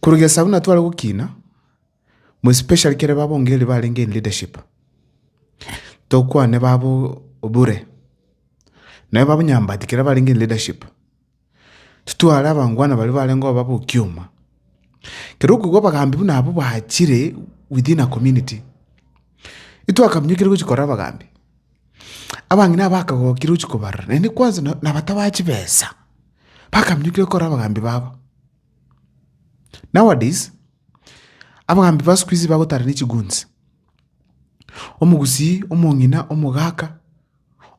Korwa gesaku buna tware gokina, more especially kere babongereria barenge in leadership, tokwane babo obure, naye babo nyambati kere barenge in leadership, titware abangwana baria barenge koba bokioma, kere okoigwa abagambi buna abwo bachire within a community, itwakaminyokire gochia korora abagambi, abang'ina abakagokire gochia kobarora naende kwanza na- nabatabae chibesa. bakaminyokire korwa abagambi babo. Nowadays, abagambi ba siku hizi bagotara ne chigunzi. Omogusii, omong'ina, omogaka,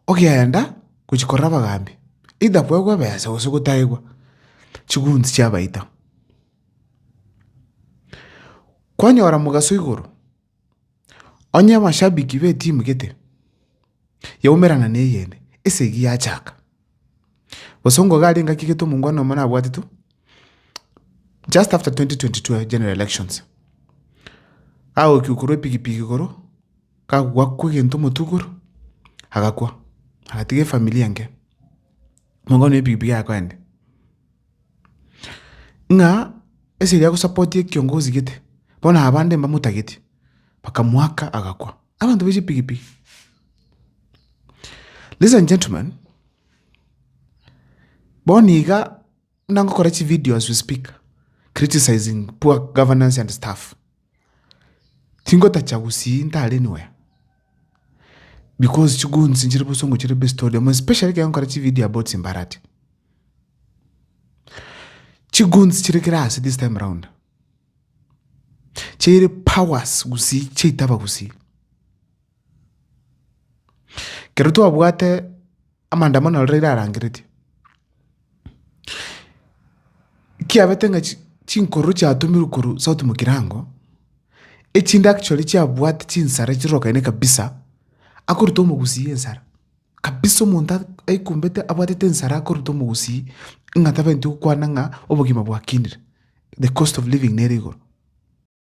ogeenda gochia korora abagambi, either kwaigwa ebesa gose gotaigwa, chigunzi chiabaita. Kwanyora mogaso igoro. Onye abashabiki b'etimu gete yaumerana neyende esegi yachaka, gose onga iga arenge akigete omongwana omo nabwate tu just after 2022 general elections, agoikwa igoro epigipigi igoro, gakwa egento omotwe igoro, agakwa, agatiga efamiri enke, omongwana oyo epigipigi yaye akoenda. ng'a esegi agosapoti ekiongozi gete, bono abande mbamotageti, bakamoaka agakwa, abanto ba chipigipigi. Ladies and gentlemen, bono iga buna ngokora chivideos as we speak, criticising poor governance and staff. Tingotacha gusii ntare nonya because chigoons nchire bosongo chire best order more especially ekero nkore chivideo about chimbarati. Chigoons chire kera ase this time round chire powers gusii chiaitaba gusii kero twabwate. amaandamano aro riria arangeretie, kiabete ng'a chi- chinkororo chiatumirwe korwa sauti mokirango, echindaki chiaria chiabwate chinsara chirokaine kabisa, akoruta omogusii ensara, kabisa omonto a- aikumbete abwatete ensara akoruta omogusii ng'a tabwenereti gokwana ng'a obogima bwakinire, the cost of living nere igoro.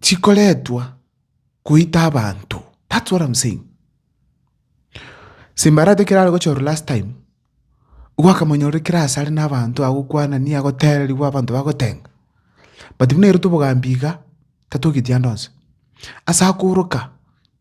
chikoretwa goita abanto that's what am saying Simbarati ekero arogochorwa last time nigo akamonyora ekero asare na abanto agokwanani agotereriwa abanto bagotenga but buna eroto obogambi iga tatoki ande onsi ase akoroka.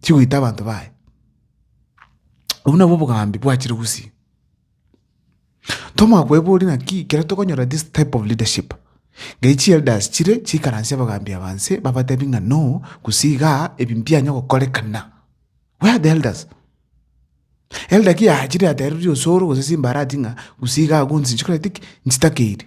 Tigoita abanto baye. Obwo nabwo obogambi bwachire gusii. Toma kweboria naki ekero tokonyora this type of leadership, ngai chi elders chire chikaransie abagambi aba nse babatebi ng'a no gose iga ebi mbianya gokorekana. Where are the elders? Elder ki achire aterire osoro gose simbara ati ng'a gose iga agwo nse nchikorete ki? Nchitakeire.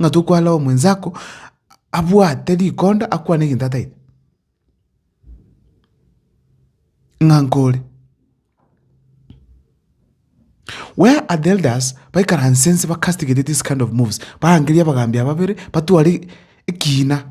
ng'a tokwara omwenzako abwate rikonda akwane egento ataete, ng'a nkore. Where are the elders baikaranse nse ba castigate this kind of moves, barangerie abagambi aba babere batware ekiina.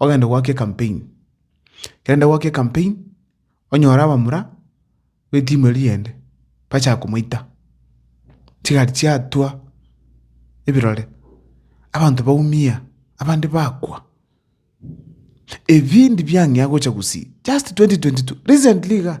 ogende goaka ecampaign, ekero goaka ecampaign onyore abamura betimu eria ende bachaka komoita, chigari chiatwa ebirore, abanto baumia, abande bakwa, ebindi biang'ea gocha gusii just twenty twenty two recently igaa.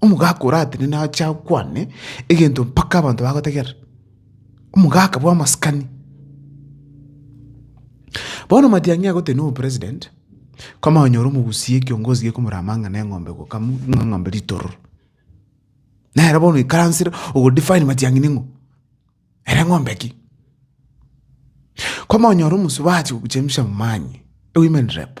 Omogaka oratenene ache akwane egento mpaka abanto bagotegerera, omogaka bw'amasikani. Bono Matiang'i agotenena obopresident, kwamanya konyora omogusii ekiongozi gekomora amang'ana eng'ombe gokamwa, ng'a eng'ombe ritororo. Nere bono oikaransire ogodefine Matiang'i ning'o, ere eng'ombe ki? Kwamanya konyora omosubati ogochemsha amani, women rep.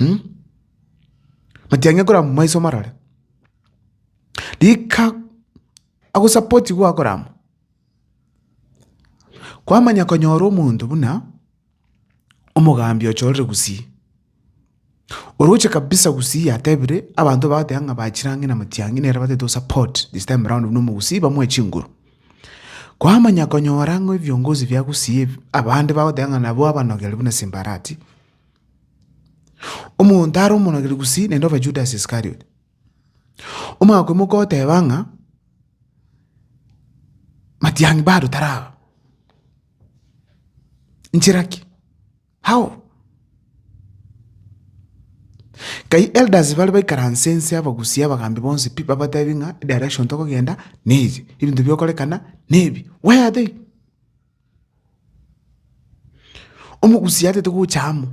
Mh? Matiang'e korama maiso marore. Rika agosapoti gwakorama. Kwamanya konyora omonto buna omogambi ochorire gusii, oroche kabisa gusii yatebire abanto bagoteeba ng'a bachire ang'e na matiang'i nere batagete osapot this time round buna omogusii bamoe chinguru. Kwamanya konyora ng'a ebiongozi bia Gusii ebi, abande bagoteba ng'a nabwo abanogeri buna Simbarati, omonto are omonogeri Gusii naende obe Judas Iskariot. Omoakwemo koteba ng'a, Matiang'i bado taraba, nchera ki? How? Kai elders bare baikaranse inse abagusie abagambi bonsi pi babatebie ng'a direction tokogenda neye, ebinto bigokorekana nebi. Where are they? Omogusia atete gocha amo,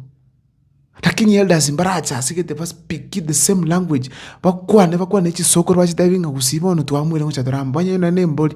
lakini elders mbarache ase egete ba speak the same language, bakwane bakwane chisokoro bachitebie ng'a gusii bono twamoire gocha tore amo. Onye nonye nembori,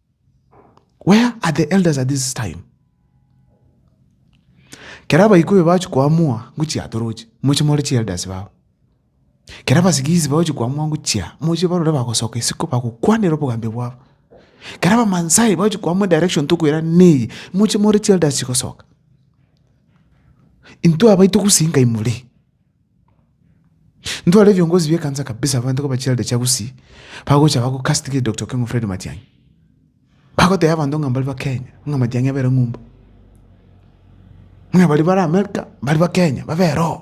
Where are the elders at this time? Kera abaikube bagochi koamua ng'u chiatoroche, moche more chielders bao. Kera abasigisi bagochi koamua ng'u chia, moche barore bagosoka isiko bagokwanera obogambi bwabo. Kera abamansae bagochi koamua direction tokoira neye, moche more chielders chigosoka. Intwe abaito gose inga imore. Ntware ebiongozi bie kansa kabisa abanto koba chirarede chia gusii bagocha bago castigate Doctor Okengo Fred Matiangi bagoteba abanto ng'a mbari ba Kenya ng'a Matiangi abere ng'umba ng'a bari bare America mbari ba Kenya babere oo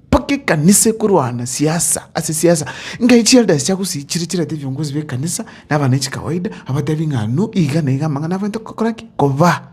mpaka ekanisa ekorwana siasa ase siasa ngai chirarede ase chia gusii chire chirarete ebiongozi bie kanisa na abananchi kawaida abatebi ng'a nu iga na iga amang'ana abanto kokora ki? Koba.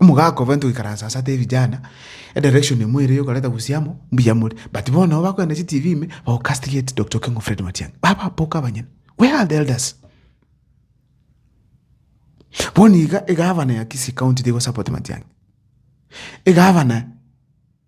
Omogaka obo ntwe goikaransa ase atebe vijana edirection imwe ere yokoreta gusii amo mbuya more but bono nabo bakogenda ne chitibi ime bago castigate Doctor Okengo Fred Matiang'i bababoka abanyene where are the elders? Bono iga egavana ya Kisii county tigo support Matiang'i egavana.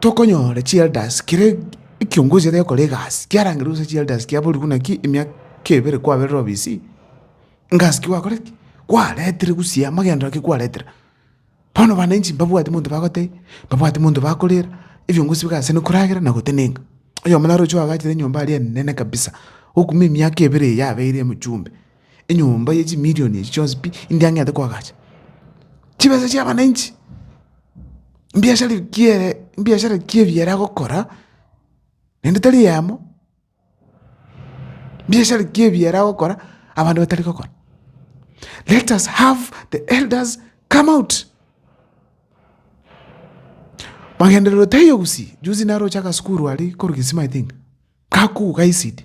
Tokonyora chielders kera ekiongosi ere gokora egasi kiarangerwe gose chielders kiaborigwe naki emiaka ebere kwaberire obisi egasi ki gwakoreti kwaretire gusii amagenderero ki kwaretire bono wananchi mbabwati monto bagotebia mbabwati monto bakorera ebiongosi bigase gose koragera na gotenenka oyomo naro ocho oagachire enyomba aria enene kabisa okumia emiaka ebere yabeire omochumbe. Enyomba ye chimilion echi chionsi pi inde ang'ete koagacha. Chibesa chia abananchi, mbiashara ekie mbiashara ekie ebiara agokora, naende tari eyemo, mbiashara ekie ebiara agokora abande batari gokora. Let us have the elders come out, magenderero taiyo gusii, juzi naroche agasukuru aria korwa kisima I think, gakogwa ka ECD.